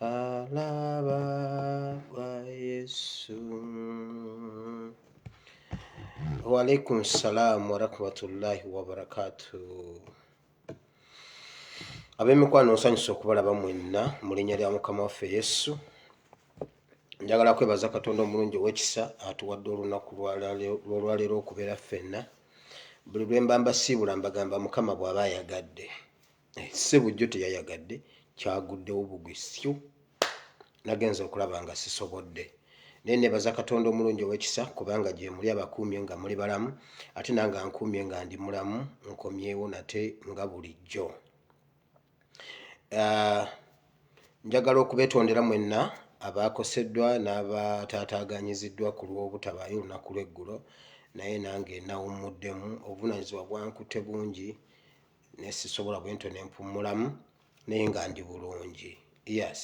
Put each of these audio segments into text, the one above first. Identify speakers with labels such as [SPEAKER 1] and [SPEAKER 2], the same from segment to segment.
[SPEAKER 1] Alaba kwa Yesu. Wa alaikum salam wa rahmatullahi wa barakatuh. Ab'emikwano nsanyusa okubalaba mwenna mu linnya lya Mukama waffe Yesu. Njagala kwebaza Katonda omulungi ow'ekisa atuwadde olunaku lw'olwaleero okubeera ffenna. Buli lwe mba mbasiibula mbagamba Mukama bw'aba ayagadde. Eh, ssebo jjo teyayagadde kyaguddewo bugwi syu nagenza okulaba nga sisobodde naye nebaza katonda omulungi owekisa kubanga gyemuli abakuumye nga muli balamu ate nange ankuumye nga ndi mulamu nkomyewo nate nga bulijjo ah, njagala okubetondera mwenna abaakoseddwa n'abataataaganyiziddwa ku lw'obutabaayo olunaku lw'eggulo naye nange nawummuddemu obuvunanyizibwa bwankute bungi naye sisobola bwentyo nempummulamu naye nga ndi bulungi yes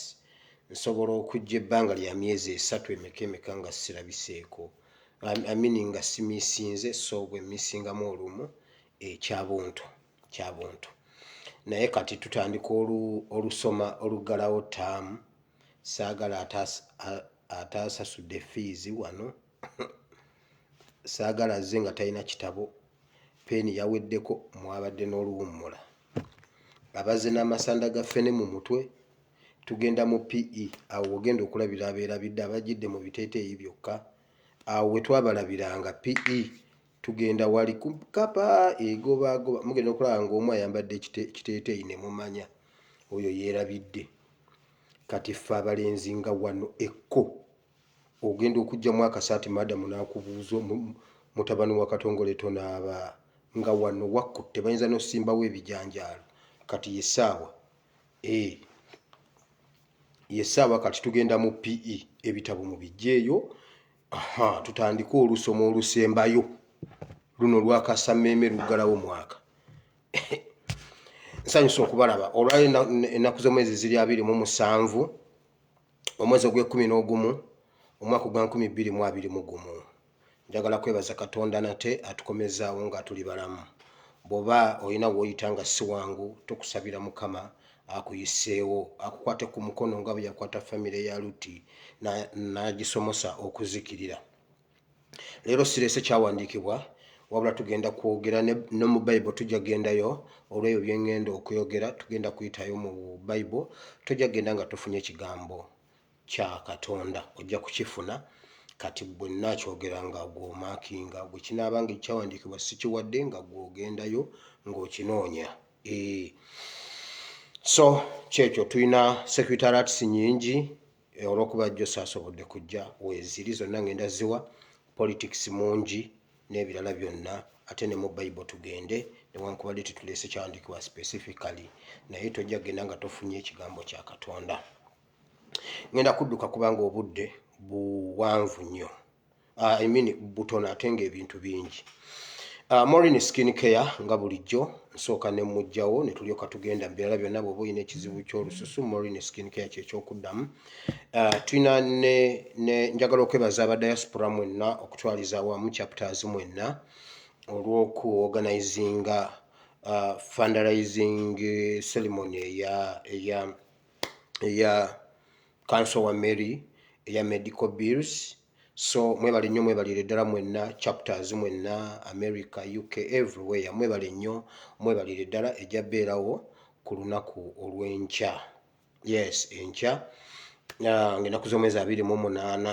[SPEAKER 1] nsobola okujja ebbanga lya myezi esatu emeka emeka nga sirabiseeko amini nga simisinze so bwe misingamu olumu ekyabuntu eh, kyabuntu naye kati tutandika olusoma oluggalawo taamu saagala ataasasudde fiizi wano saagala azze nga talina kitabo peeni yaweddeko mwabadde n'oluwummula abazze n'amasanda ga ffene mu mutwe tugenda mu pe awo wogenda okulabira abeerabidde abajidde mu biteeteeyi byokka awo we twabalabiranga pe tugenda wali kukapa egobaagoba mugenda okulaba ng'omu ayambadde ekiteeteeyi ne mumanya oyo yeerabidde kati ffe abalenzi nga wano ekko ogenda okujjamu akasaati madamu nakubuuza mutabani wa katongole tonaaba nga wano wakkutte bayinza nosimbawo ebijanjaalo kati yesaawa eh, yesaawa kati tugenda mu pe ebitabo mu bijjeeyo aha tutandike olusoma olusembayo luno lwakasameeme luggalawo mwaka nsanyusa okubalaba olwali ennaku z'omwezi ziri abiri mu musanvu omwezi ogw'ekkumi n'ogumu omwaka ogwa nkumi bbiri mu abiri mu gumu njagala kwebaza katonda nate atukomezaawo nga tuli balamu bw'oba olina w'oyita nga si wangu tukusabira mukama akuyiseewo akukwate ku mukono nga bwe yakwata famire ya lutti n'agisomosa okuzikirira leero sirese kyawandiikibwa wabula tugenda kwogera ne mu bible tujja kugendayo olwebyo byengenda okwogera tugenda kuyitayo mu bible tojja kugenda nga tofunye kigambo kya katonda ojja kukifuna kati bwe nakyogera nga gwomakinga bwe kinaaba nga ekyawandiikibwa sikiwadde nga gwogendayo ng'okinoonya ee eh. so kyekyo tulina security alerts nyingi eh, olwokuba jjo saasobodde kujja weeziri zonna ngenda ziwa politics mungi n'ebirala byonna ate ne mu bayibo tugende newankubadde tetuleese kyawandiikibwa specifically naye tojja kugenda nga tofunye ekigambo kya katonda ngenda kudduka kubanga obudde buwanvu nnyo uh, I mean butono ate nga ebintu bingi uh, Morin skin care nga bulijjo nsooka ne mujjawo ne tulyoka tugenda mu birala byonna bw'oba olina ekizibu ky'olususu Morin skin care kyekyokuddamu uh, tulina ne, ne njagala okwebaza aba diaspora mwenna okutwaliza awamu chapters mwenna olw'oku organizinga uh, fundraising ceremony eya eya eya kanso wa mary eya medical bills so mwebale nnyo mwebalire ddala mwenna chapters mwenna america uk everywhere mwebale nnyo mwebalire ddala ejja beerawo ku lunaku olw'enkya yes enkya ah, ng'enaku z'omwezi abiri mu munaana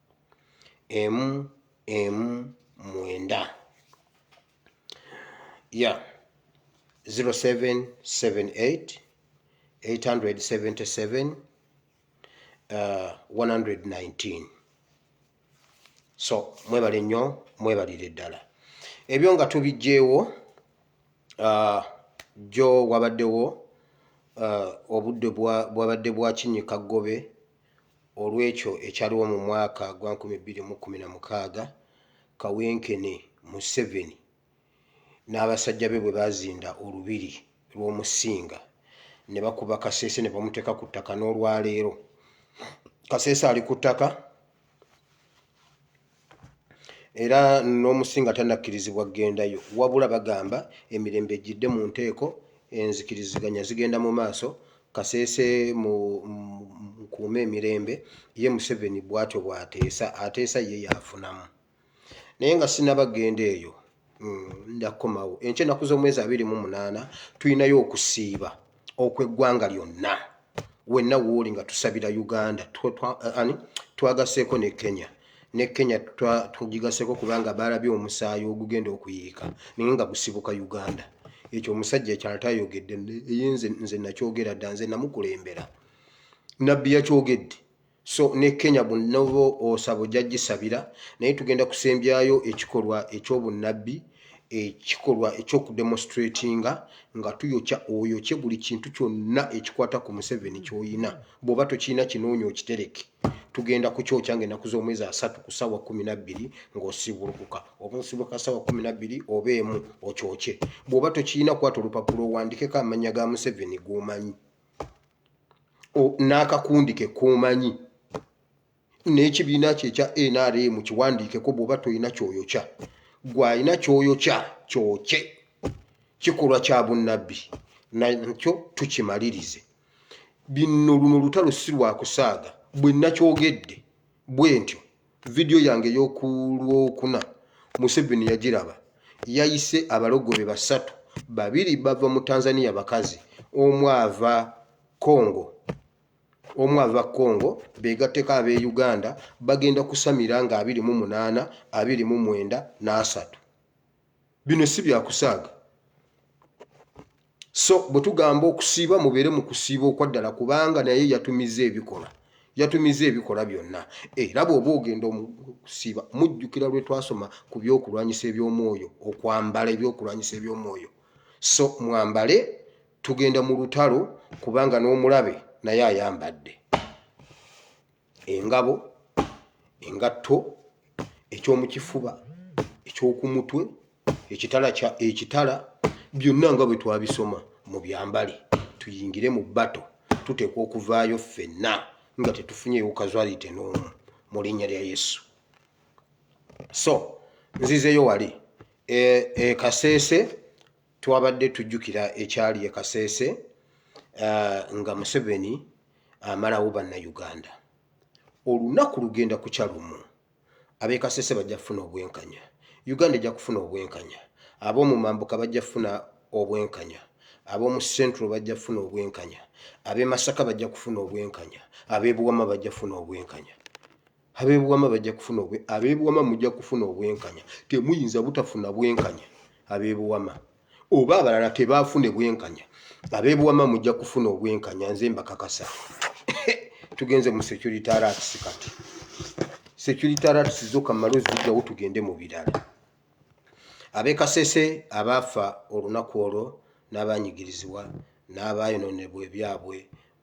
[SPEAKER 1] emu emu mwenda ya 0778 877 uh, 119 so mwebale nnyo mwebalire ddala ebyo nga tubijjeewo uh, jjo wabaddewo uh, obudde bwabadde bwa kinyika ggobe olw'ekyo ekyaliwo mu mwaka gwa nkumi bbiri mu kkumi na mukaaga kawenkene Museveni n'abasajja be bwe baazinda olubiri lw'Omusinga ne bakuba Kasese ne bamuteeka ku ttaka n'olwaleero Kasese ali ku ttaka era n'omusinga tanakkirizibwa kugendayo wabula bagamba emirembe ejjidde mu nteeko enzikiriziganya zigenda mu maaso Kasese mu nkuume emirembe ye Museveni bwatyo bwateesa ateesa ye yaafunamu naye nga sinaba genda eyo mm, ndakomawo enkya ennaku z'omwezi abiri mu munaana tulinayo okusiiba okw'eggwanga lyonna wenna wooli nga tusabira uganda ani twagaseeko ne kenya ne kenya tugigaseeko kubanga baalabye omusaayi ogugenda okuyiika naye nga gusibuka uganda ekyo omusajja ekyala tayogedde eye nze nakyogera dda nze namukulembera nabbi yakyogedde so ne kenya bunoba osaba ojja gisabira naye tugenda kusembyayo ekikolwa ekyobunnabbi ekikolwa ekyokudemonstratinga nga tuyokya oyokye buli kintu kyonna ekikwata ku museveni kyoyina bwoba tokirina kinoonya okitereke tugenda kukyokya nga enaku z'omwezi asatu ku saawa kumi nabbiri ng'osiibulukuka oba osibuka saawa kumi nabbiri oba emu okyokye bwoba tokirina kwata olupapula owandikeko amannya ga museveni g'omanyi n'akakundi ke k'omanyi n'ekibiina kye ekya nrm kiwandiikeko bw'oba tolina kyoyokya gwe alina kyoyokya kyokye kikolwa kya bunnabbi nakyo tukimalirize binno luno lutalo si lwakusaaga bwe nakyogedde bwe ntyo vidiyo yange ey'oku lwokuna museveni yagiraba yayise abalogobe basatu babiri bava mu tanzania bakazi omu ava congo omu ava congo begatteko ab'e uganda bagenda kusamira nga abiri mu munaana abiri mu mwenda n'asatu bino si byakusaaga so bwe tugamba okusiiba mubeere mu kusiiba okwaddala kubanga naye yatumiza ebikola yatumiza ebikola byonna era bw'oba ogenda okusiiba mujjukira lwe twasoma ku byokulwanyisa eby'omwoyo okwambala ebyokulwanyisa eby'omwoyo so mwambale tugenda mu lutalo kubanga n'omulabe naye ayambadde engabo engatto ekyomukifuba ekyokumutwe ekitala kya ekitala byonna nga bwe twabisoma mu byambale tuyingire mu bato tuteekwa okuvaayo ffenna nga tetufunyeewo kazwalite n'omu mu linnya lya yesu so nzizeeyo wali e, e kasese twabadde tujjukira ekyali e kaseese uh, nga museveni amalawo uh, bannayuganda olunaku lugenda kukya lumu abekaseese bajja kufuna obwenkanya uganda ejja kufuna obwenkanya ab'omu mambuka bajja kufuna obwenkanya ab'omu central bajja kufuna obwenkanya ab'e masaka bajja kufuna obwenkanya ab'ebuwama bajja kufuna obwenkanya abebuwama bajja kufuna obwe abebuwama mujja kufuna obwenkanya temuyinza butafuna bwenkanya abebuwama oba abalala tebafune bwenkanya abebuwama mujja kufuna obwenkanya nze mbakakasa tugenze mu security arats kati security arats zoka malo zijjawo tugende mu birala abekasese abaafa olunaku olwo n'abanyigirizibwa n'abaayononebwa ebyabwe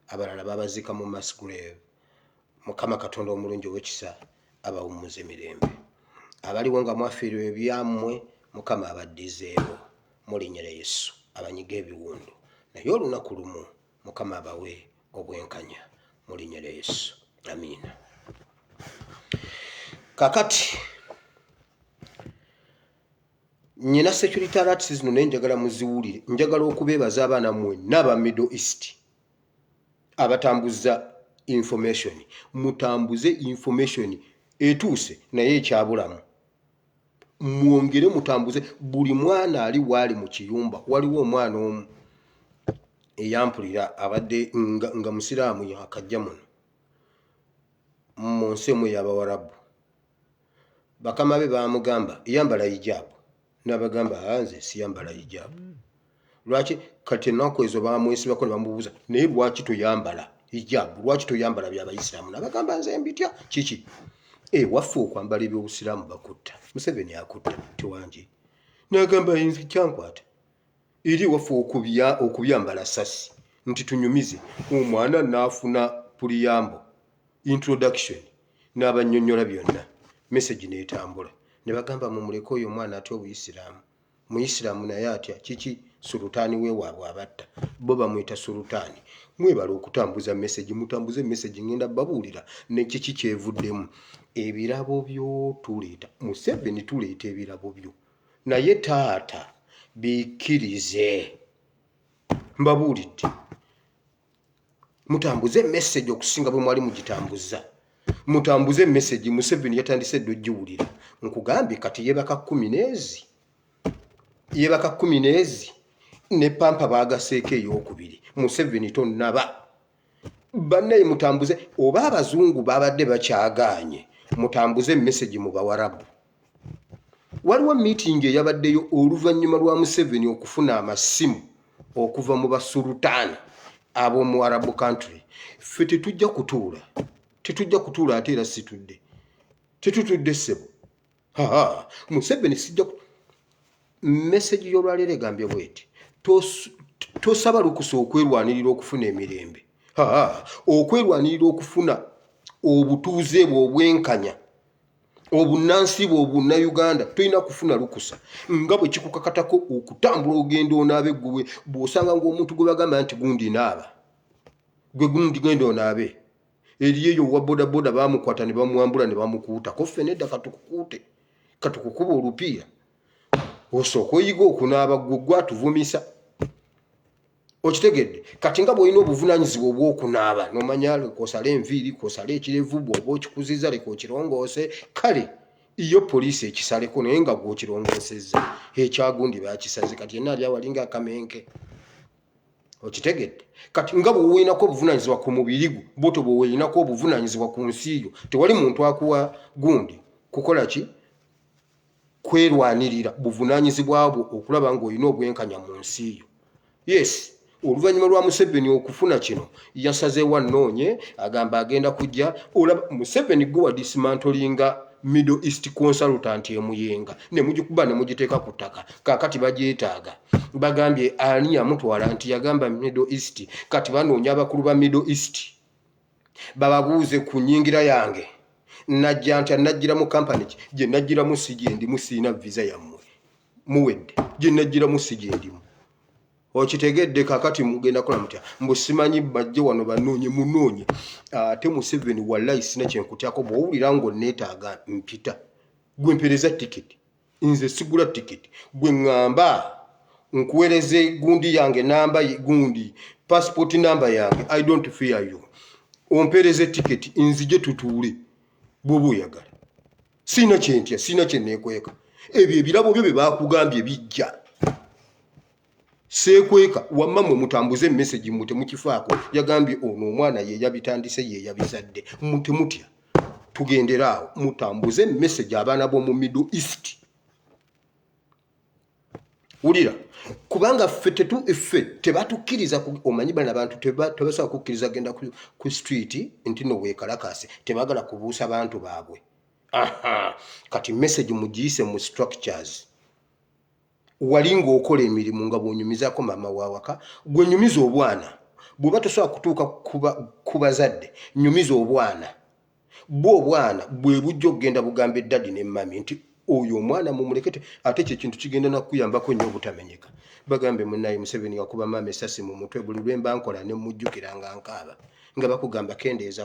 [SPEAKER 1] abalala babaziika mu masgrave mukama katonda omulungi owekisa abawummuze mirembe abaliwo nga mwafiirwa ebyammwe mukama abaddizeewo mulinyere yesu abanyiga ebiwundu naye olunaku lumu mukama abawe obwenkanya mulinyere yesu amiina kakati nyina security alert zino naye njagala muziwulire njagala okubeebaza abaana mwenna aba middle east abatambuza information mutambuze information etuuse naye ekyabulamu mwongere mutambuze buli mwana ali waali mu kiyumba waliwo omwana omu eyampulira abadde nga, nga musiraamu yakajja muno mu nsi emu eyabawarabu bakama be bamugamba yambala hijab nabagamba ah, nze siyambala hijab lwaki kati enaku ezo bamwesibako nebamubuuza naye lwaki toyambala hijab lwaki toyambala byabayisiramu nabagamba nze mbitya kiki ewaffe eh, okwambala ebyobusiraamu bakutta museveni akutta tewangi nagamba nze kyankwata eri ewaffe okubya okubyambala sasi nti tunyumize omwana naafuna puliyambo introduction n'abannyonnyola byonna mesegi n'etambula ne bagamba mumuleke oyo omwana atya obuyisiraamu muyisiraamu naye atya kiki sulutaani wewaabwe abatta bo bamuyita sulutaani mwebala okutambuza mesegi mutambuze mesegi ngenda babuulira nekiki kyevuddemu ebirabo byo tuleeta museveni tuleeta ebirabo byo naye taata bikkirize mbabuulidde mutambuze emesegi okusinga bwe mwali mugitambuza mutambuze emesegi museveni yatandise edda ogiwulira nkugambye kati yebaka kumi neezi yebaka kumi neezi ne pampa bagaseeko eyokubiri museveni tonaba bannaye mutambuze oba abazungu babadde bakyagaanye mutambuze emesegi mu bawarabu waliwo miitingi eyabaddeyo oluvannyuma lwa museveni okufuna amasimu okuva mu basulutaani ab'omu arabu country ffe tetujja kutuula tetujja kutuula ate era situdde tetutudde ssebo museveni sijja message y'olwaleero egambye bweti tosaba lukusa okwerwanirira okufuna emirembe okwerwanirira okufuna obutuuze bwe obwenkanya obunansi bwe obunnauganda tolina kufuna lukusa nga bwe kikukakatako okutambula ogenda onaabe gwe bw'osanga ngaomuntu gwe bagamba nti gundi naaba gwe gundi genda onaabe eriyo eyo owa bodaboda bamukwata ne bamwambula ne bamukuutako ffe nedda katukukuute katukukuba olupiira osooka oyiga okunaaba gwe gwatuvumisa okitegedde kati nga bwolina obuvunanyizibwa obwokunaaba nomanya kosala enviiri kosala ekirevu bwoba okikuziza leka okirongoose kale iyo poliisi ekisaleko naye nga gwokirongoosezza ekyagundi bakisaze kati yenna ali awali nga akamenke okitegedde kati nga bwewoyinako obuvunanyizibwa ku mubiri gwo bwoto bwewoyinako obuvunanyizibwa ku nsi yo tewali muntu akuwa gundi kukola ki kwerwanirira buvunanyizibwa bwo okulaba ngaolina obwenkanya mu nsi yo yes oluvannyuma lwa museveni okufuna kino yasazeewo anoonye agamba agenda kujja olaba museveni gwe wadisimantolinga middle east consultant emuyenga nemugikuba nemugiteeka ku ttaka kakati bagyetaaga bagambye ani yamutwala nti yagamba middle east kati banoonya abakulu ba middle east bababuuze ku nyingira yange najja nti anajjira mu kampani ki gye najjiramu si gyendimu siina visa yammwe muwedde gye najjiramu si gyendimu okitegedde kakati mugenda kola mutya mbusimanyi bajje wano banoonye munoonye ate museveni walayi sina kyenkutyako bwowulira ngaoneetaaga mpita gwempereza tikiti nze sigula ticket gwe ngamba nkuwereze gundi yange namba gundi passport namba yange i don't fear you ompereze ticket nzije tutuule bwoba oyagala siina kyentya siina kyenekweka ebyo ebirabo byo bye bakugambye bijja seekweka wamma mwe mutambuze emesegi mwe temukifaako yagambye ono omwana ye yabitandise ye yabizadde mwe temutya tugendere awo mutambuze emesegi abaana b'omu middle east wulira kubanga ffe tetu ffe tebatukkiriza omanyi bana bantu tebasobola kukkiriza genda ku street nti no weekalakaase tebagala kubuusa bantu baabwe kati message mugiyise mu structures wali ng'okola emirimu nga bw'onyumizaako maama w'awaka gwe nyumiza obwana bw'oba tosobola kutuuka ku bazadde nyumiza obwana bwe obwana bwe bujja okugenda bugamba eddadi ne mami nti oyo omwana mumulekete ate ekyo ekintu kigenda nakukuyambako nnyo obutamenyeka bagambe munaye museveni wakuba maama esasi mu mutwe buli lwemba nkola ne mujjukira nga nkaaba nga bakugamba kendeeza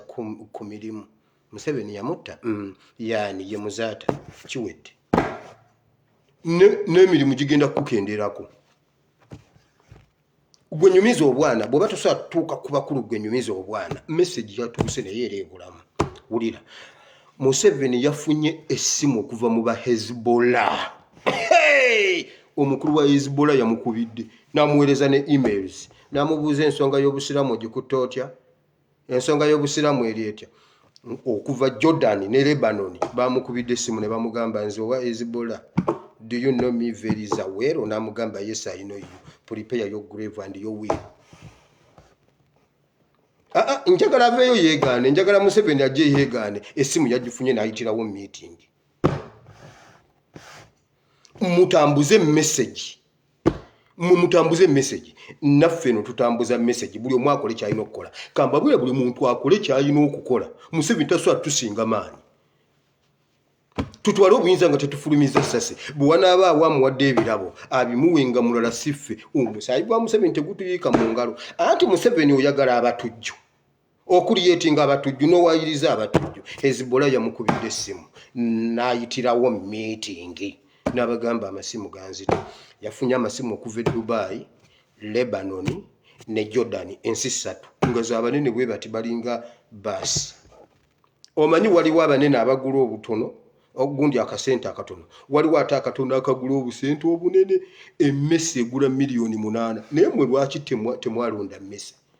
[SPEAKER 1] ku mirimu museveni yamutta mm, yaani ye muzaata kiwedde n'emirimu gigenda kukukendeerako gwe nyumiza obwana bw'oba tosobola kutuuka ku bakulu gwe nyumiza obwana mesagi yatuuse naye era ebulamu wulira museveni yafunye essimu okuva mu ba hezbola omukulu wa hezbola yamukubidde n'amuweereza ne emails n'amubuuza ensonga y'obusiraamu ogikutte otya ensonga y'obusiraamu eri etya okuva jordan ne lebanoni bamukubidde essimu ne bamugamba nze owa ezibola do you know me very zawero namugamba yes i know you prepare your grave and your will ah, ah, njagala aveeyo yeegaane njagala museveni ajje yeegaane essimu yagifunye n'ayitirawo meeting mutambuze message mwe mutambuza emessage naffe no tutambuza message buli omu akole kyalina okukola kamba bwe buli muntu akole kyalina okukola museveni tasobola tusinga maanyi tutwale obuyinza nga tetufulumiza sasi bwe wanaaba awo amuwadde ebirabo abimuwe nga mulala siffe omusaayi gwa museveni tegutuyiika mu ngalo anti museveni oyagala abatujju okuliyetinga abatujju n'owayiriza abatujju hezibula yamukubidde essimu n'ayitirawo miitingi n'abagamba amasimu ganzita yafunye amasimu okuva e dubayi lebanon ne jordan ensi ssatu nga zabanene bwe bati balinga baasi omanyi waliwo abanene abagula obutono ogundi akasente akatono waliwo ate akatono akagula obusente obunene emmese egula miliyoni munaana naye mwe lwaki temwalonda mmese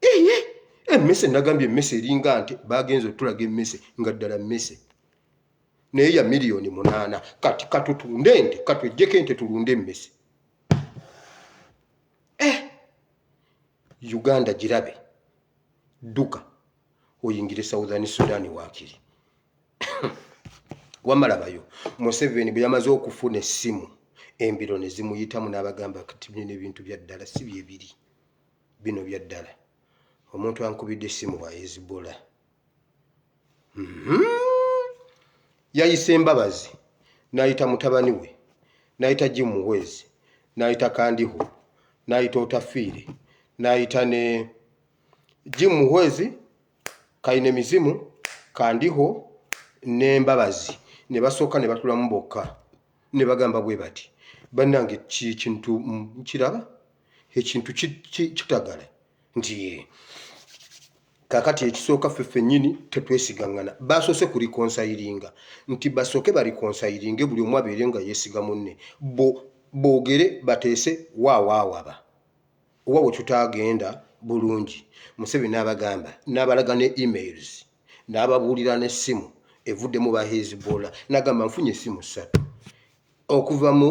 [SPEAKER 1] eye emmese nagambye emmese eringa nti bagenza otulaga emmese nga ddala mmese naye ya miliyoni munaana kati katutunde nte katwejjeko ente tulunde emmese eh, uganda girabe dduka oyingire southern sudan wakiri wamalabayo museveni bwe yamaze okufuna essimu embiro ne zimuyitamu n'abagamba kati bino n'ebintu bya ddala si bye biri bino bya ddala omuntu ankubidde essimu wa hezibula mhm. yayise embabazi n'ayita mutabani we n'ayita jimu wezi n'ayita kandiho n'ayita otafiire n'ayita ne jimu wezi kalina emizimu kandiho n'embabazi ne basooka ne batulamu bokka ne bagamba bwe bati bannange kikintu nkiraba mm, ekintu kitagala nti kakati ekisooka ffe ffennyini tetwesigaŋŋana basoose ku likonsayiringa nti basooke balikonsayiringe buli omu abeere nga yeesiga munne boogere bateese waawaawaba oba we tutaagenda bulungi musebi n'abagamba n'abalaga ne emails n'ababuulira n'essimu evuddemu ba hezbola n'agamba nfunye essimu ssatu okuva mu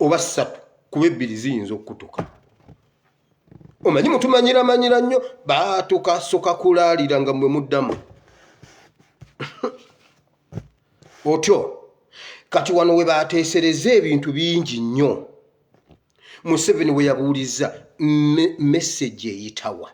[SPEAKER 1] oba ssatu kuba ebbiri ziyinza okukutuka omanyi mutumanyiramanyira nnyo baatuka soka kulaalira nga mwe muddamu otyo kati wano we baateesereza ebintu bingi nnyo museveni we yabuulizza mesegi eyitawa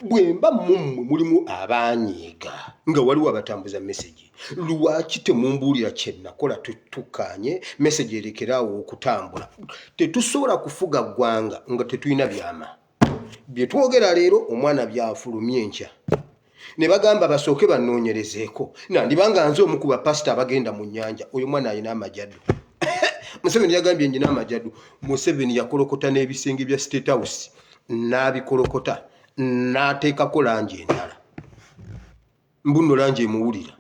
[SPEAKER 1] bwemba mummwe mulimu abaanyiiga nga waliwo abatambuza mesegi lwaki temumbuulira kyenakola tutukanye mesegi erekere awo okutambula tetusobola kufuga ggwanga nga tetulina byama bye twogera leero omwana byafulumye enkya ne bagamba basooke banoonyerezeeko nandiba nga nze omu ku bapasita abagenda mu nnyanja oyo mwana alina amajadu museveni yagambye njina amajadu museveni yakolokota n'ebisenge bya state house n'abikolokota n'ateekako langi endala mbuno langi emuwulira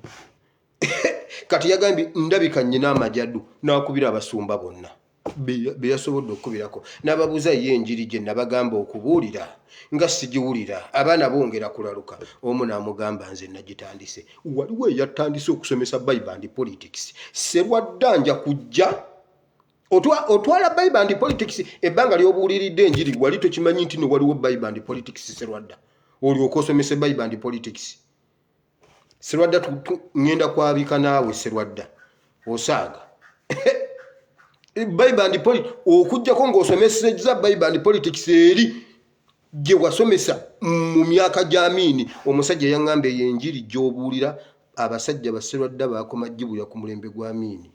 [SPEAKER 1] kati yagambye ndabika nnyina amajadu n'akubira abasumba bonna be yasobodde okukubirako n'ababuuza ye enjiri gye nabagamba okubuulira nga sigiwulira abaana bongera kulaluka omu n'amugamba nze nagitandise waliwo eyatandise okusomesa bible and politics serwadda nja kujja otwala bible and politics ebbanga lyobuuliridde enjiri wali tokimanyi nti no waliwo bible and politics serwadda olyoka osomese bible and politics serwadda ŋŋenda kwabika naawe serwadda osaaga bible and politics okujjako ng'osomeseza bible and politics eri gye wasomesa mu myaka gy'amiini omusajja yaŋŋamba eyo enjiri gy'obuulira abasajja baserwadda baakoma gibuya ku mulembe gwa miini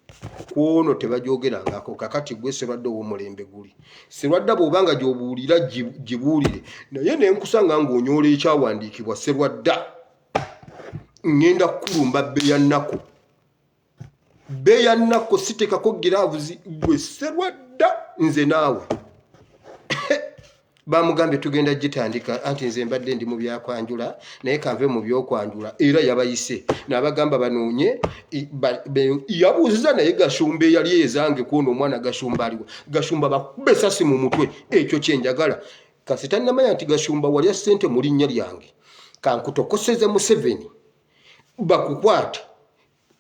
[SPEAKER 1] ku ono tebagyogerangako kakati gwe serwadda ow'omulembe guli serwadda bw'oba nga gy'obuulira gibuulire naye ne nkusanga ng'onyoola ekyawandiikibwa serwadda ŋŋenda kukulumba bbe ya nnaku beya nako sitekako giravuzi gwe serwadda nze naawe bamugambye tugenda gitandika anti nze mbadde ndi mu byakwanjula naye kanve mu byokwanjula era yabayise nabagamba banoonye yabuuziza naye gashumba eyali ezange kuona omwana gashumba aliwo gashumba bakube sasi mu mutwe ekyo kyenjagala kasita namanya nti gashumba walya sente mu linnya lyange kankutokoseze museveni bakukwate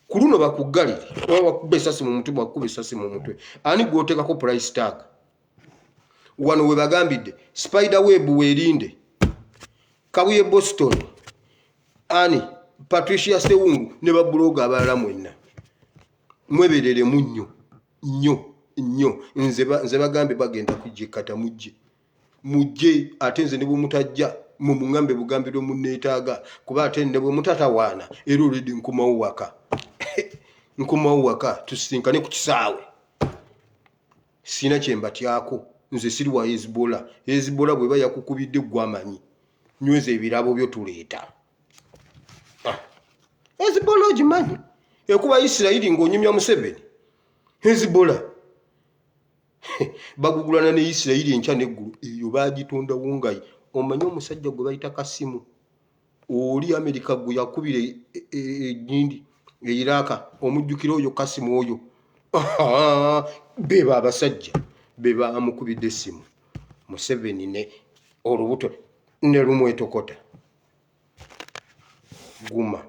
[SPEAKER 1] ku luno bakuggalire oba bakuba esasi mu mutwe bakuba esasi mu mutwe ani gwoteekako price tag wano we bagambidde spider web weerinde kabuye boston ani patricia sewungu ne babuloga abalala mwenna mwebereremu nnyo nnyo nnyo nze bagambye bagenda kujja ekata mujje mujje ate nze ne bwemutajja mwe muŋambe bugambi lwe munneetaaga kuba ate ne bwe mutatawaana era olwedi nkomawo waka nkomawo waka tusisinkane ku kisaawe siina kye mbatyako nze siri wa heziboola heziboola bweba yakukubidde gwamanyi nyweza ebirabo byo tuleeta ah. heziboola ogimanyi ekuba isirayiri ng'onyumya museveni heziboola bagugulana ne isirayiri enkya neggulu eyo bagitondawo nga omanyi omusajja gwe bayita kasimu oli amerika gwe yakubira egindi e, e, e, eiraka omujjukira oyo kasimu oyo beba abasajja bebamukubidde esimu museveni ne olubuto ne lumwetokota guma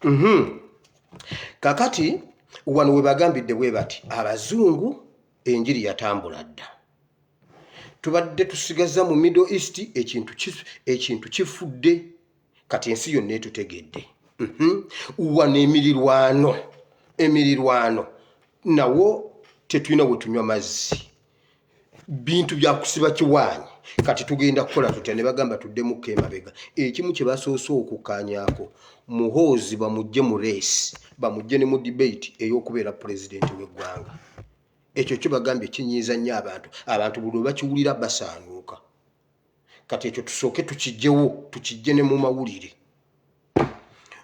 [SPEAKER 1] Mhm. kakati wano webagambidde bwe bati abazungu enjiri yatambula dda tubadde tusigaza mu middle east ekintu ki- ekintu kifudde kati ensi yonna etutegedde Mhm. wano emirirwano emirirwano nawo tetulina wetunywa mazzi bintu byakusiba kiwaanyi kati tugenda kukola tutya ne bagamba tuddemukko emabega ekimu kye basoose okukkaanyaako muhoozi bamujje mu reesi bamujje ne mu debate ey'okubeera pulezidenti w'eggwanga ekyo kibagambye kinyiiza nnyo abantu abantu buli lwe bakiwulira basaanuuka kati ekyo tusooke tukijjewo tukijje ne mu mawulire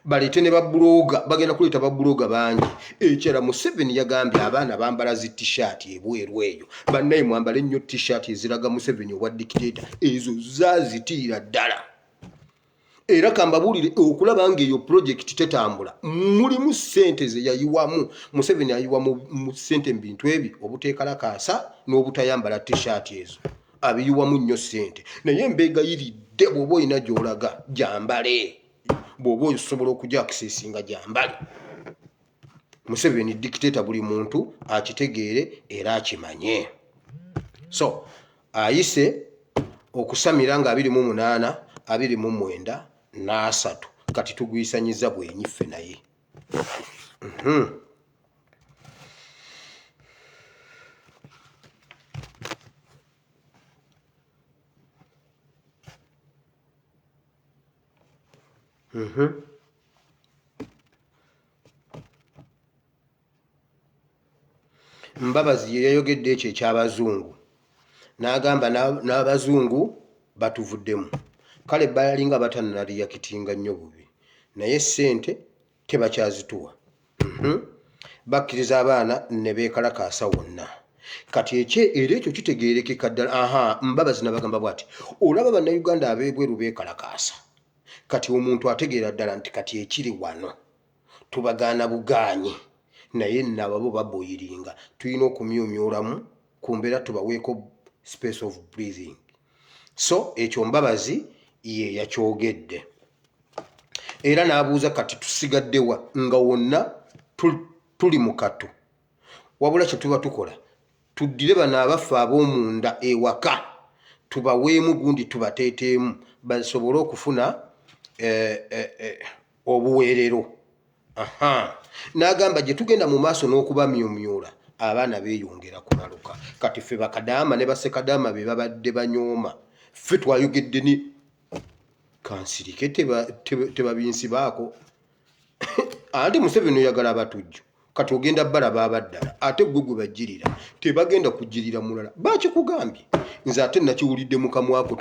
[SPEAKER 1] baleete ne babuloga bagenda kuleeta babuloga bangi ekyala museveni yagambye abaana bambala zi tshirt ebweru eyo bannaye mwambale nnyo tshirt eziraga museveni obwa dikiteta ezo zazitiira ddala era kambabuulire okulaba ngaeyo pulojekiti tetambula mulimu sente zeyayiwamu museveni ayiwa mu sente mu bintu ebyo obuteekalakaasa n'obutayambala tishaati ezo abiyiwamu nnyo sente naye mbeegayiridde bw'oba olina gy'olaga gyambale bw'oba osobola okujakisesinga gyambale museveni dikiteeta buli muntu akitegeere era akimanye so ayise okusamira nga abiri mu munaana abiri mu mwenda n'asatu kati tugwisanyiza bwenyiffe naye mhm. mhm. mbabazi ye yayogedde ekyo eky'abazungu n'agamba n'a- n'abazungu batuvuddemu kale balinga batanaliyakitinga nnyo bubi naye ssente tebakyazituwa Mhm. bakkiriza abaana ne beekalakaasa wonna kati ekye era ekyo kitegeerekeka ddala aha mbabazi nabagamba bwati olaba bannayuganda ab'ebweru beekalakaasa kati omuntu ategeera ddala nti kati ekiri wano tubagaana bugaanyi naye nababo baboyiringa tulina okumyumyulamu ku mbeera tubaweeko space of breathing so ekyo mbabazi ye yakyogedde era n'abuuza kati tusigaddewa nga wonna tuli mu katu wabula kye tuba tukola tuddire bano abaffe ab'omunda ewaka tubaweemu gundi tubateeteemu basobole okufuna eh, eh, eh, obuweerero n'agamba gye tugenda mu maaso n'okubamyumyula abaana beeyongera kulaluka kati ffe bakadaama ne basekadaama be babadde banyooma ffe twayogedde ni kansirike tebabinsibaako anti museveni oyagala abatujju kati ogenda balaba abaddala ate gwe gwe bajjirira tebagenda kujjirira mulala bakikugambye nze ate nakiwulidde mukamwako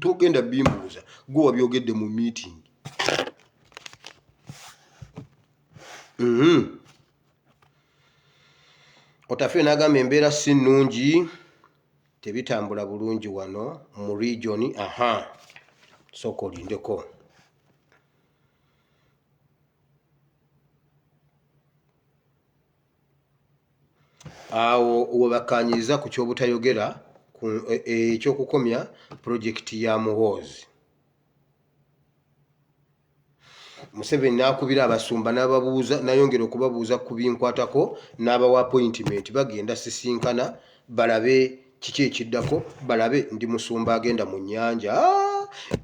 [SPEAKER 1] togenda bimbuuza gwe wabyogedde mu meeting mhm. otafe nagamba embeera si nnungi tebitambula bulungi wano mu regioni aha sooka olindeko awo webakkaanyiriza ku ky'obutayogera ku e- e- ekyokukomya pulojekiti ya muhoozi museveni n'akubira abasumba n'ababuuza nayongera okubabuuza ku binkwatako n'abawa appointment bagenda sisinkana balabe Kiki ekiddako? Balabe ndi musumba agenda mu nnyanja.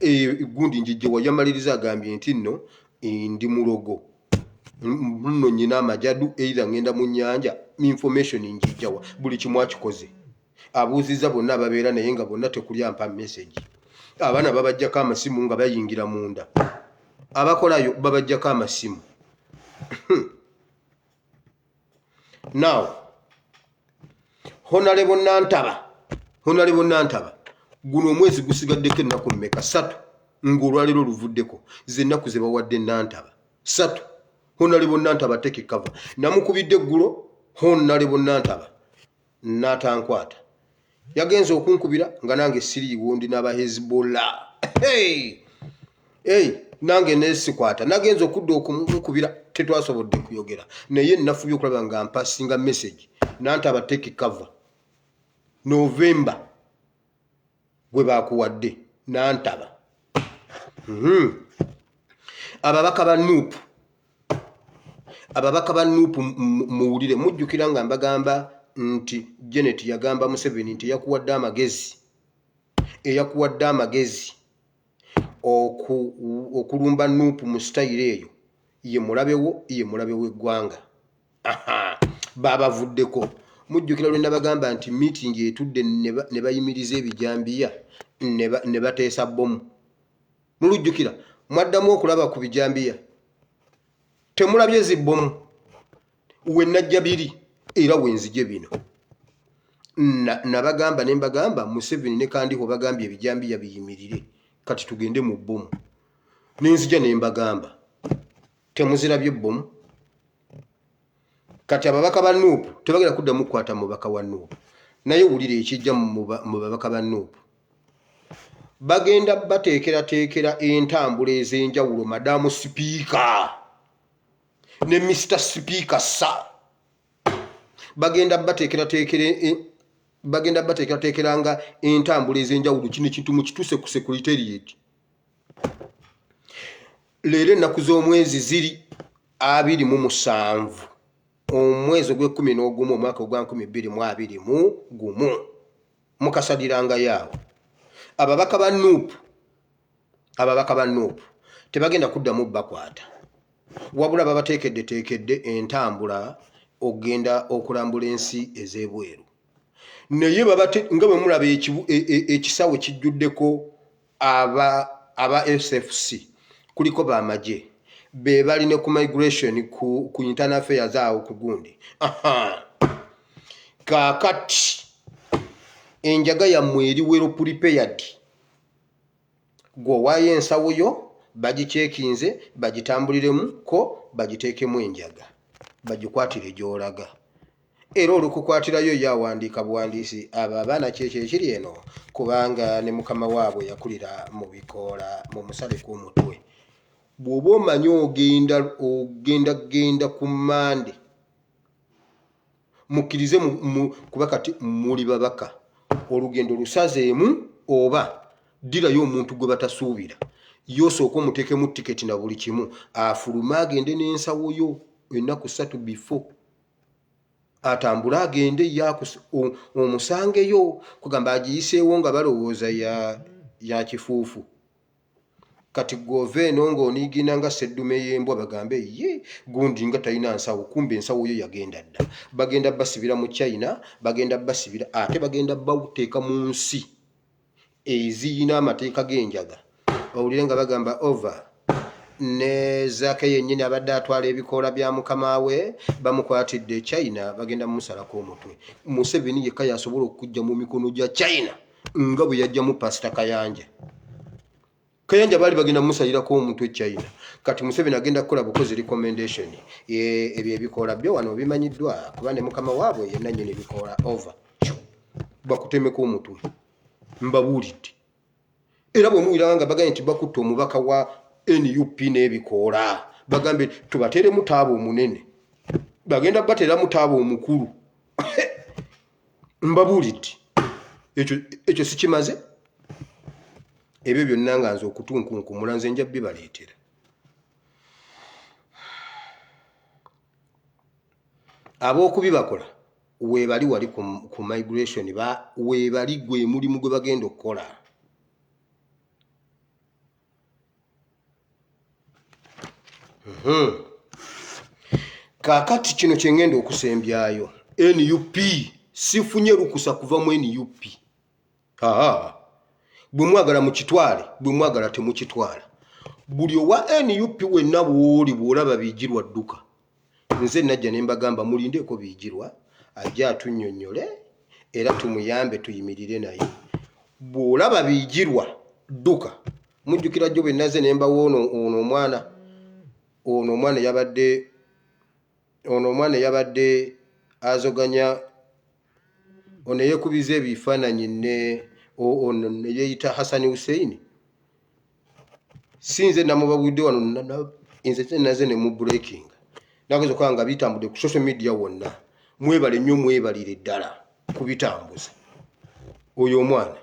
[SPEAKER 1] Eyo ah! eggundi njijjewa. Yamaliriza agambye nti nno eh, ndi mulogo nno nyina amajadu eitha ngenda mu nnyanja information njijjawa buli kimu akikoze abuuzizza bonna ababeera naye nga bonna tekuli ampa message abaana babajjako amasimu nga bayingira munda abakolayo babajjako amasimu now honalebo nantaba honalebo nantaba guno omwezi gusigaddeko ennaku mmeka satu ng'olwaleero oluvuddeko zennaku ze bawadde nantaba satu honalebo nantaba tekekava namukubidde eggulo honalebo nantaba n'atankwata yagenze okunkubira nga nange siriiwo ndi n'aba hezbollah hey! hey! nange nesikwata nagenza okudda okumukubira tetwasobodde kuyogera naye nafubye okulaba nga mpasinga message nantaba take cover november gwe baakuwadde nantaba mhm. ababaka ba nup ababaka ba nup muwulire mujjukira nga mbagamba nti janet yagamba museveni nti eyakuwadde amagezi eyakuwadde amagezi okulumba nup mu sitayiro eyo ye mulabewo ye mulabe w'eggwanga baabavuddeko mujjukira lwe nabagamba nti meeting etudde ne bayimiriza ebijambiya ne bateesa bbomu mulujjukira mwaddamu okulaba ku bijambiya temulabye zi bbomu we najja biri era wenzije bino nabagamba ne mbagamba museveni ne kandiho bagambye ebijambiya biyimirire kati tugende mu bbomu nenzija ne mbagamba temuzirabye bbomu kati ababaka ba nup tebagenda kuddamu kukwata mubaka wa nup naye wulira ekijja mu babaka ba nup bagenda bateekerateekera entambula ez'enjawulo madamu sipiika ne mr sipiika sa bagenda bateekerateekera e, bagenda bateekerateekera nga entambula ez'enjawulo kino ekintu mukituuse ku secretariat leero ennaku z'omwezi ziri abiri mu musanvu omwezi ogw'ekkumi n'ogumu omwaka ogwa nkumi bbiri mu abiri mu gumu mukasadirangayo awo ababaka ba nup ababaka ba nup tebagenda kuddamu bakwata wabula babateekeddeteekedde entambula okugenda okulambula ensi ez'ebweru naye nga bwe mulaba e, e, ekisawo kijjuddeko aba aba SFC kuliko ba magye be bali ne ku migration ku, ku internal affairs awo ku gundi kakati enjaga yammwe eri wero prepared gwe owaayo ensawo yo bagikyekinze bagitambuliremu ko bagiteekemu enjaga bagikwatire gyolaga era olukukwatirayo ye awandiika buwandiisi abo abaana kyekyo ekiri eno kubanga ne mukama waabwe yakulira mu bikoola mu musale kw'omutwe bw'oba omanyi ogenda ogenda genda ku mande mukkirize kuba kati muli babaka olugendo lusazeemu oba ddirayo omuntu gwe batasuubira yosooka omuteekemu tiketi na buli kimu afulume agende n'ensawo yo ennaku ssatu before atambule agende omusangeyo kugamba agiyiseewo nga balowooza ya kifuufu kati gwova eno ng'oniigina nga seddume y'embwa bagambe ye gundi nga talina nsawo kumba ensawo yo yagenda dda bagenda basibira mu china bagenda basibira ate bagenda bauteeka mu nsi eziyina amateeka g'enjaga owulire nga bagamba over ne zaake yennyini abadde atwala ebikoola bya mukama we bamukwatidde e china bagenda mumusalako omutwe museveni yekka yasobola okujja mu mikono gya china nga bwe yajjamu pasita kayanja kayanja baali bagenda musalirako omuntu echina kati museveni agenda kukola bukozi recommendation ebyo ebikoola byo wano bimanyiddwa kuba ne mukama waabwe yenna nyini bikoola over bakutemeko omutwe mbabuulidde era bwe muwiranga nga bagambye nti bakutte omubaka wa nup n'ebikoola bagambye tubateeremu taaba omunene bagenda bateeramu taaba omukulu mbabuulidde ekyo ekyo sikimaze ebyo byonna nga nze okutunkunkumula nze nja bibaleetera ab'okubibakola weebali wali ku, ku migration ba weebali gwe mulimu gwe bagenda okukola Hmm. kaakati kino kye ngenda okusembyayo nup sifunye lukusa kuva mu nup aa bwe mwagala mukitwale bwe mwagala temukitwala buli owa nup wenna bwoli bw'olaba biigirwa dduka nze najja ne mbagamba mulindeeko biigirwa ajja atunnyonnyole era tumuyambe tuyimirire naye bw'olaba biigirwa dduka mujjukira jjo bwe naze ne mbawo ono ono omwana ono omwana yabadde ono omwana yabadde azoganya ono yeekubiza ebifaananyi ne ono ne yeeyita hasani husseini si nze namubabudde wano nze naze ne mu breaking nageeza okuba nga bitambudde ku social media wonna mwebale nnyo mwebalire ddala ku bitambuza oyo omwana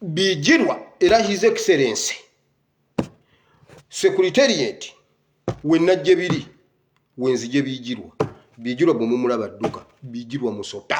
[SPEAKER 1] bijirwa era his excellence securitariat wenna gye biri wenzije bijirwa bijirwa bwemumulaba dduka bijirwa musota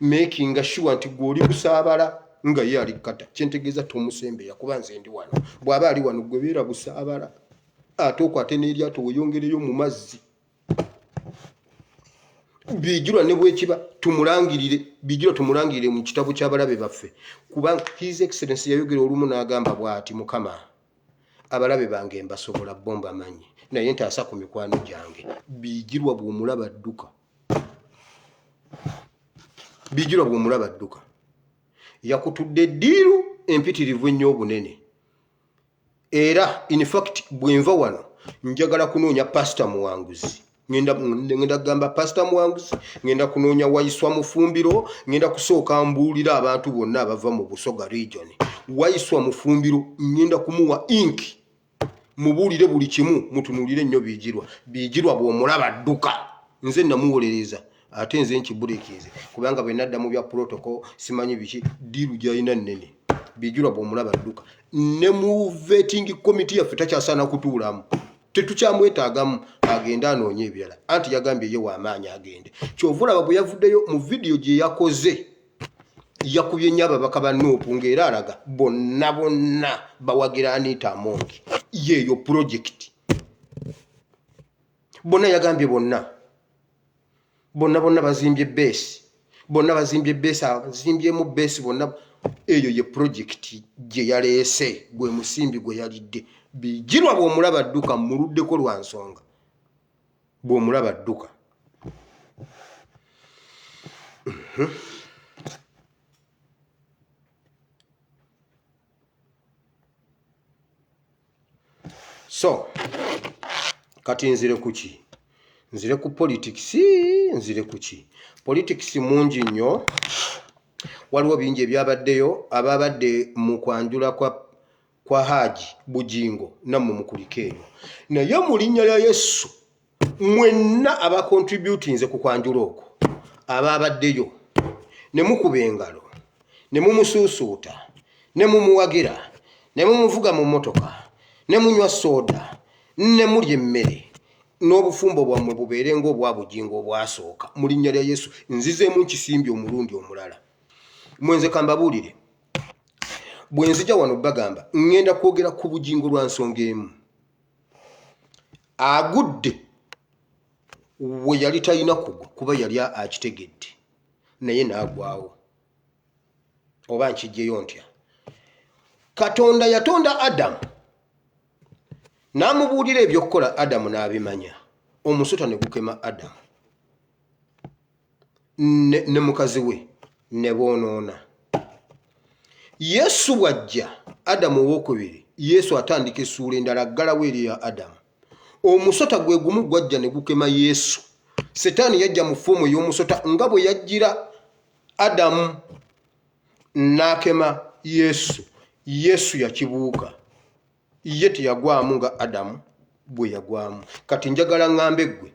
[SPEAKER 1] makinga sure nti gwe oli kusaabala nga ye ali kukata kyentegeeza tomusembeera kuba nze ndi wano bw'aba ali wano gwe beera busaabala ate okwate n'eryato weyongereyo mu mazzi bijirwa ne bwekiba tumulangirire bijirwa tumulangirire mu kitabo ky'abalabe baffe kubanga his excellence yayogera olumu n'agamba bw'ati mukama abalabe bange mbasobola bo mbamanyi naye ntaasa ku mikwano gyange bijirwa bw'omulaba dduka bijirwa bwomulaba dduka yakutudde eddiiru empitirivu ennyo obunene era infact bwenva wano njagala kunoonya pasita muwanguzi ngenda kugamba pasita muwanguzi ngenda kunoonya wayiswa mufumbiro ngenda kusooka mbuulira abantu bonna abava mu busoga region wayiswa mufumbiro ngenda kumuwa inki mubuulire buli kimu mutunuulire nnyo biigirwa biigirwa bw'omulaba dduka nze namuwolereza ate nze nkibulikiize kubanga bwe nadda mu bya protocol simanyi biki diiru gyalina nnene biigirwa bw'omulaba dduka ne mu vetting committee yaffe takyasaana kutuulamu tetukyamwetaagamu agende anoonye ebirala anti yagambye ye w'amaanyi agende kyova olaba bwe yavuddeyo mu vidiyo gye yakoze yakubye nnyo ababaka ba nuupu ng'era alaga bonna bonna bawagira aniita amongi yeeyo pulojekiti bonna yagambye bonna bonna bonna bazimbye beesi bonna bazimbye beesi azimbyemu beesi bonna eyo ye pulojekiti gye yaleese gwe musimbi gwe yalidde bijirwa bw'omulaba dduka mmuluddeko lwa nsonga bw'omulaba dduka so kati nzire kuki nzire ku politics nzire kuki politics mungi nnyo waliwo bingi ebyabaddeyo ababadde mu kwanjula kwa kwa haaji bugingo nammwe mukulika eyo naye mu linnya lya yesu mwenna abakontributinze ku kwanjula okwo abaabaddeyo ne mukuba engalo ne mumusuusuuta ne mumuwagira ne mumuvuga mu mmotoka ne munywa sooda ne mulya emmere n'obufumbo bwammwe bubeere ng'obwa bugingo obwasooka mu linnya lya yesu nzizeemu nkisimbye omulundi omulala mwenze kambabuulire bwe nzija wano bagamba ŋŋenda kwogera ku bugingo lwa nsonga emu agudde we yali talina kugwa kuba yali akitegedde naye n'agwawo oba nkijjeyo ntya katonda yatonda adamu n'amubuulira eby'okukola adamu n'abimanya omusota ne gukema adamu ne mukazi we ne boonoona yesu bw'ajja adamu owokubiri yesu atandika essuula endala aggalawo eri ya adamu omusota gwe gumu gwajja ne gukema yesu setaani yajja mu foomu ey'omusota nga bwe yajjira adamu n'akema yesu yesu yakibuuka ye teyagwamu nga adamu bwe yagwamu kati njagala ŋŋambe ggwe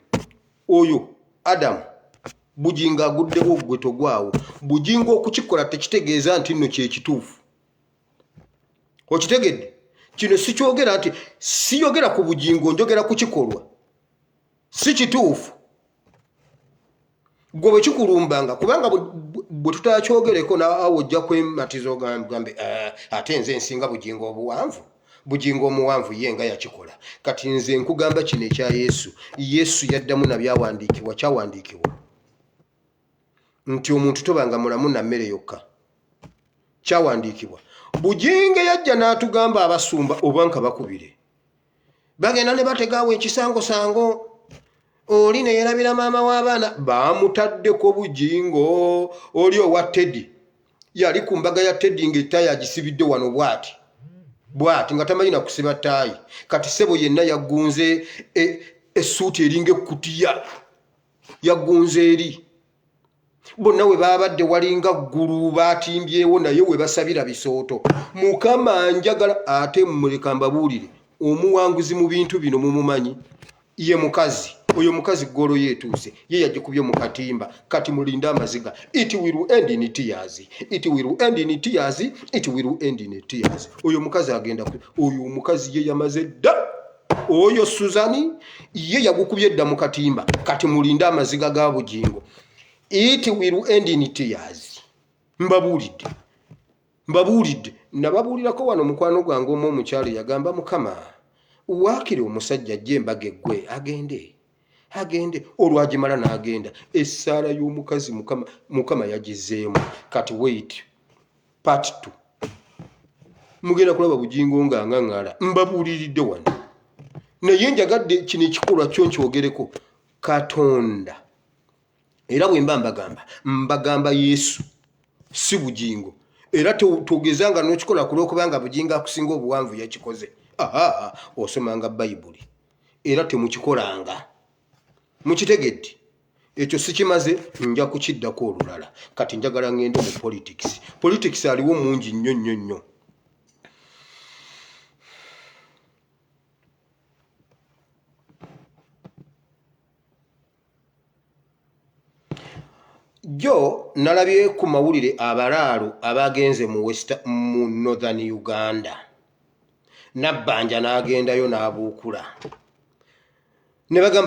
[SPEAKER 1] oyo adamu bugingo aguddewo ggwe togwawo bugingo okukikola tekitegeeza nti nno kyekituufu okitegedde kino sikyogera nti siyogera ku bugingo njogera ku kikolwa si kituufu gwe bwekikulumbanga kubanga bwe tutakyogereko naawe ojja kwematiza ogambe ah, ate nze nsinga bugingo obuwanvu bugingo omuwanvu ye nga yakikola kati nze nkugamba kino ekya yesu yesu yaddamu nabyawandiikibwa kyawandiikibwa nti omuntu tobanga mulamu na mmere yokka kyawandiikibwa bugingo yajja n'atugamba abasumba oba nka bakubire bagenda ne bategaawo ekisangosango oli ne yerabira maama w'abaana baamutaddeko bujingo oli owa teddy yali ku mbaga ya teddy ng'ettaayi agisibidde wano bwati bwati nga tamanyi na kusiba ttaayi kati sebo yenna yaggunze e, essuuti eringa ekkutiya yaggunze eri bonna we baabadde walinga ggulu baatimbyewo naye we basabira bisooto mukama njagala ate muleka mbabuulire omuwanguzi mu bintu bino mumumanyi ye mukazi oyo mukazi golo yetuuse ye yagikubye mu katimba kati mulinde amaziga it will end in tears it will end in tears it will end in tears oyo mukazi agenda oyo omukazi ye yamaze dda oyo suzani ye yagukubye edda mu katimba kati mulinde amaziga ga bugingo it will end in tears mbabuulidde mbabuulidde nababuulirako wano mukwano gwange omu omukyalo yagamba mukama waakiri omusajja ajja embaga eggwe agende agende olwagimala n'agenda essaala y'omukazi mukama yagizeemu kati wait part t mugenda kulaba bugingo nga ngaŋala mbabuuliridde wano naye njagadde kino ekikolwa kyo nkyogereko katonda era bwemba mbagamba mbagamba yesu si bugingo era togeza nga nokikola kulwokubanga bugingo akusinga obuwanvu yakikoze aa osomanga bayibuli era temukikolanga mukitegedde ekyo sikimaze nja kukiddako olulala kati njagala ngende mu politics politics aliwo mungi nnyo nnyo nnyo jjo nalabye ku mawulire abalaalo abaagenze mu west mu northern uganda nabbanja n'agendayo n'abuukula ne bagamba